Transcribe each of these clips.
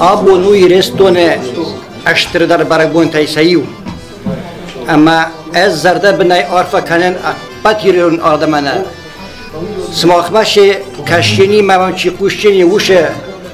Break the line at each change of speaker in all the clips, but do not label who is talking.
Абон у Ирыстоны стырдӕр бӕрӕгбонтӕй сӕ иу. Ӕмӕ ӕз зӕрдӕбынӕй арфӕ кӕнын ӕппӕт ирон адӕмӕн. Сымахмӕ се кӕсджыни мӕм чи хъусджыни усы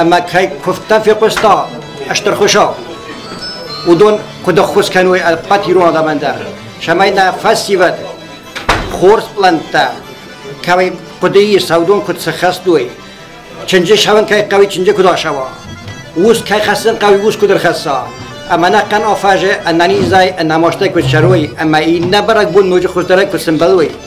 ӕма кӕй кувдтӕ фехъуста Ӕстӕрхуса, уыдон куд ӕххуыс кӕной ӕппӕт ирон адӕмӕн дӕр, цӕмӕй нӕ фӕсивӕд хорз пълӕнттӕ, кӕй хъуыдыйы сӕудон куыд сыххӕстой, чынджы сӕвын кӕй хъӕуи чынджы куыд асӕуа, ус кӕй хӕссын хъӕуи ус куыд ӕрхӕсса, ӕмӕ нӕ хъан афӕзы ӕнӕнизӕй ӕнӕмастӕй куыд сӕрой ӕмӕ иннӕ бӕрӕгбон ноджы хуыздӕрӕй куыд сӕмбӕлой.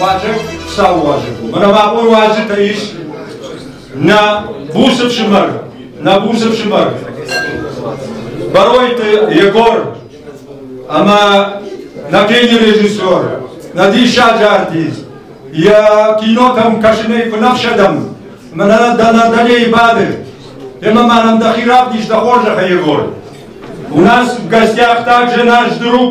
Уадзӕг цауы уазӕг у. Мӕнӕ абон уазджытӕ ис нӕ буц ӕфсымӕр, нӕ буц ӕфсымӕр Баройты Егор ӕмӕ нӕ кинорежиссер, нӕ диссаджы артист, йӕ кинотӕм кӕсынӕй куы нӕ фсӕдӕм, мӕнӕ дӕ нӕ дӕлейы бады, Темӕ ма нӕм дӕхи равдис дӕ хорзӕхӕй, Егор. У нас в гостях также наш друг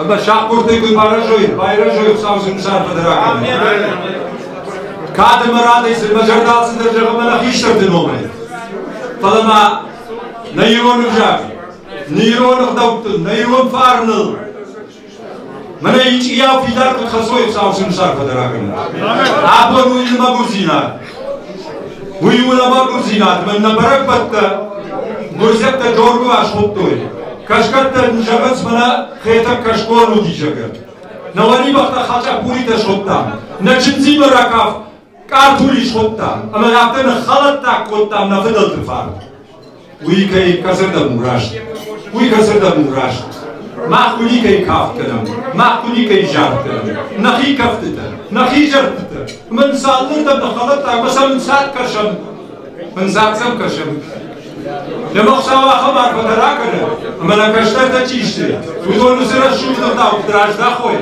Ӕмӕ сахъгуырдыг уый барӕзой, байрӕзой сау зынгсар быдырагӕн. Кад ӕмӕ радӕй цы мӕ зӕрдӕ алцыдӕр зӕгъӕм ӕнӕ хистӕрты номӕй. Фӕлӕ ма нӕ ирон ӕвзаг, нӕ ирон ӕгъдӕуттыл, нӕ ирон фарныл Мӕнӕ ичъияу фидар куыд хӕцой сау сымсар фӕдӕрагӕн. Абон уый нымӕгуырдзинад, Уый у лӕвӕрддзинад, мӕн нӕ бӕрӕгбӕттӕ гуырдзиӕгтӕ доргуы асхуыдтой. Кӕсгӕттӕ зӕгъынц мӕнӕ Хетӕг кӕсгон уыди, зӕгъы. Нӕ уӕлибӕхтӕ хачапуритӕ содта, нӕ чындзимӕ ракафт къартули схуыдта, ӕмӕ афтӕ ныххӕлӕттаг кодтам нӕ фыдӕлты фарн. Уый кӕй кӕцырдӕм у раст, уый кӕцырдӕм у раст. Мах уый никӕй кафт кӕнӕм, мах уый никӕй зард кӕнӕм. Нӕхи кӕфтытӕ, нӕхи зӕрдӕтӕ, мын сӕ алырдӕм ныххӕлӕтт ӕмӕ сӕ мын цад кӕсӕм, мын дзаг сӕм кӕсӕм. Лӕмӕгъ цау ахӕм арфӕ дӕр акӕны, ӕмӕ нӕ кӕстӕртӕ чи сты, уыдоны цы рӕсугъд хъӕуты раздахой,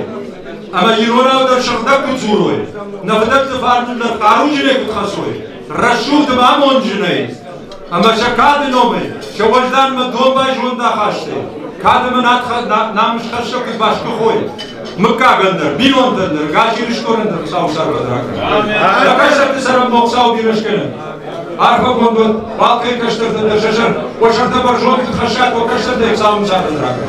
ӕмӕ иронау дӕр сыгъдӕг куы дзурой, нӕ фыдӕлты фарныл нӕ хъаруджынӕй куыд хӕцой, Рӕсугъд ӕмӕ амонджынӕй ӕмӕ сӕ кады номӕй, сӕ уӕзданмӕ домбай зондахастӕй, кады мын нӕм схӕсса куыд бӕсгуыхой, мыггагӕн дӕр, бинонтӕн дӕр, гас Ирыстонӕн дӕр Хуыцауы сӕрвӕдракӕн. Нӕ кӕсӕрты цӕрӕнбон Хуыцауы бирӕ скӕнӕд. Арфӕ конд уӕд балхӕй кӕстӕртӕн дӕр сӕ зӕрд, уӕ сӕртӕ бӕрзонд куыд хӕссат уӕ кӕстӕртӕй Хуыцауы сӕрвӕдракӕн.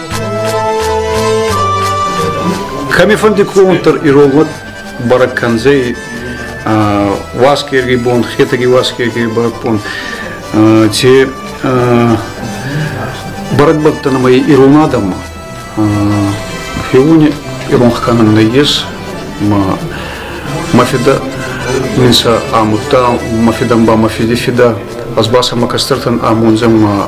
Кӕмифӕнди клоунтар иронлат бӕрӕг кӕндзӕй уасгерги бон, хетаги уасгерги бӕрӕг бон. Те бӕрӕг бӕттӕн ӕмӕ ирон адӕммӕ. Феуни ирон хканам нӕйес, ма мафида минса амутта, мафидан ба мафиди фида, аз баса ма кастертан амонзем ма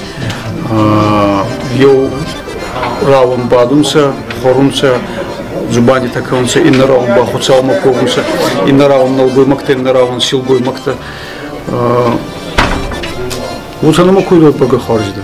еу раунд бадунцӕ, хорунцӕ, зубандитӕ кӕнунцӕ, иннӕ раунд ба хуцаумӕ ковунцӕ, иннӕ раунд нӕлгоймӕгтӕ, иннӕ раунд силгоймӕгтӕ. Уотӕ нӕмӕ кой дойпагӕ хуарзидӕ.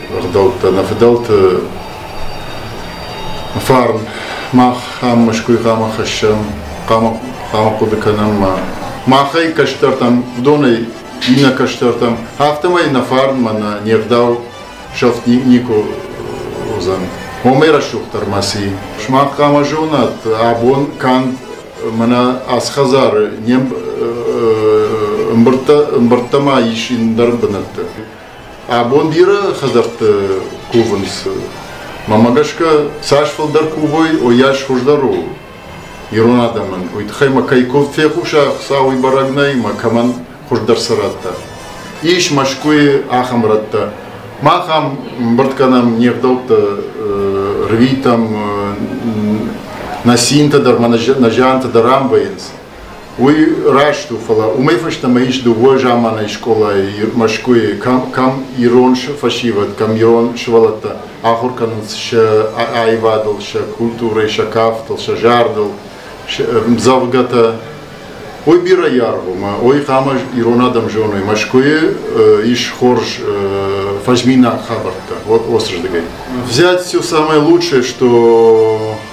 ӕгъдӕуттӕ, нӕ фыдӕлты фарн мах ам Мӕскуй хъама хӕссӕм, хъама, хъама хъуыды кӕнӕм ма махӕй кӕстӕртӕм, уыдонӕй иннӕ кӕстӕртӕм, афтӕмӕй нӕ фарнмӕ нӕ не гъдау сӕфт никуы уыдзӕн. Омӕ рӕсугъддӕр ма си. Сымах хъама зонат, абон канд мӕнӕ ацы хӕдзары не мбырдтӕ ӕмбырдтӕ ма ис ӕндӕр бынӕтты. Абон бирӕ хӕдзӕртты кувынц. Мӕмӕ гӕсгӕ цас фылдӕр кувой, уойас хуыздӕр у ирон адӕмӕн. Уый тыххӕй мӕ кӕй куыд фехъуса, Хуыцауӕй бӕрӕг нӕй, мӕ кӕмӕн хуыздӕр цы рӕттӕ. Ис Мӕскуыйы ахӕм рӕттӕ. Мах ам ӕмбырд кӕнӕм не гъдӕутты рвитӕм, нӕ цинтӕ дӕр, мӕ нӕ зиантӕ дӕр ам вӕййынц. Уый раст у, фӕлӕ уымӕй фӕстӕмӕ ис дыууӕ заманай скъолайы Мӕскуыйы, кӕм, кӕм ирон фӕсивӕд, кӕм ирон сывӕллӕттӕ ахуыр кӕнынц сӕ аивадыл, сӕ культурӕйы, сӕ кафтыл, сӕ зардыл, мдзӕвгӕтӕ. Уый бирӕ аргъ у, уый хъуамӕ ирон адӕм зоной. Мӕскуыйы ис хорз фӕзминаг хабӕрттӕ, вот осрдыгай. Взять все самое лучшее, что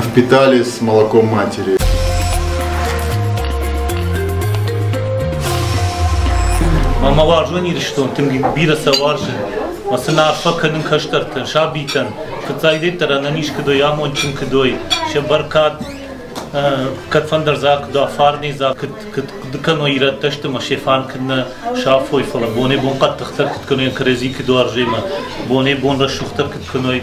впитали с молоком
матери. Ма уарзон Ирыстон, тынг бирӕ сӕ уарзы. Ма сын арфӕ кӕнын кӕстӕртӕн, сабитӕн. Фыццагдӕддӕр ӕнӕниз куыдой, амондджын куыдой, сӕ бӕркад кӕдфӕндӕр дзаг куыд афарни, дзаг куыд куыд кӕной ирӕттӕ сты, ма се фан куыд нӕ сафой, фӕлӕ бонӕй-бон хъӕддыхдӕр куыд кӕной, кӕрӕдзи куыд уарзой, ма бонӕй-бон рӕсугъддӕр куыд кӕной.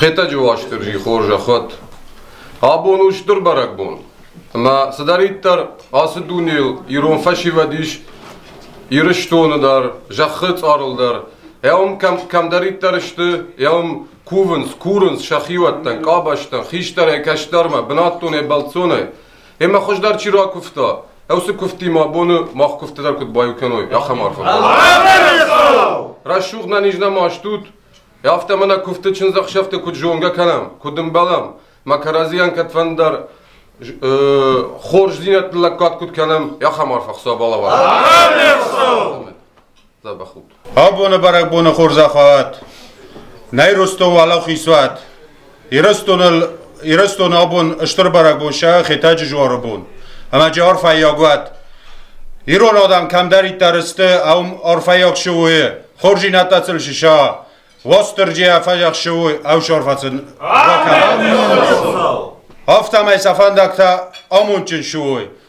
Хетӕджы Уастырджи хорзӕхуӕд! Абон у стыр бӕрӕгбон. Ӕмӕ цыдӕриддӕр ацы дунейыл ирон фӕсивӕд ис, Ирыстоны дӕр, зӕххы цъарыл дӕр, уым кӕм, кӕмдӕриддӕр сты, уым кувынц, курынц сӕ хиуӕттӕн, къабӕзтӕн, хистӕрӕй, кӕстӕрмӕ, бынӕттонӕй, бӕлццонӕй. Емӕ хуыздӕр чи ракуывта, уыцы куывдтимӕ абоны мах куывдты дӕр куыд баиу кӕной, ахӕм арфӕ. Рӕсугъд нӕ низ нӕма стут, Афтӕ мӕ нӕ куывдты чындзӕхсӕвты куыд зонгӕ кӕнӕм, куыд ӕмбӕлӕм, мӕ кӕрӕдзийӕн кӕдфӕндӕр хорздзинӕдты лӕггад куыд кӕнӕм, ахӕм арф ӕхцо балӕвар. Абоны бӕрӕгбоны
хорзӕхуат! Нӕй Ростов уӕлӕ хисуат! Ирыстон абон стыр бӕрӕгбон сӕ Хетӕджы жуары бон ӕмӕ арфӕйаг уӕт. Ирон адӕм кӕмдӕриддӕр сты, ам арфӕйаг шоуы, хорзинӕдтӕ сыл сыса, Уастырджийӕ фӕзӕх шоуы ӕвсарфӕцын бакӕна. Афтӕмӕй сӕ фӕндӕгтӕ амондджын шоуы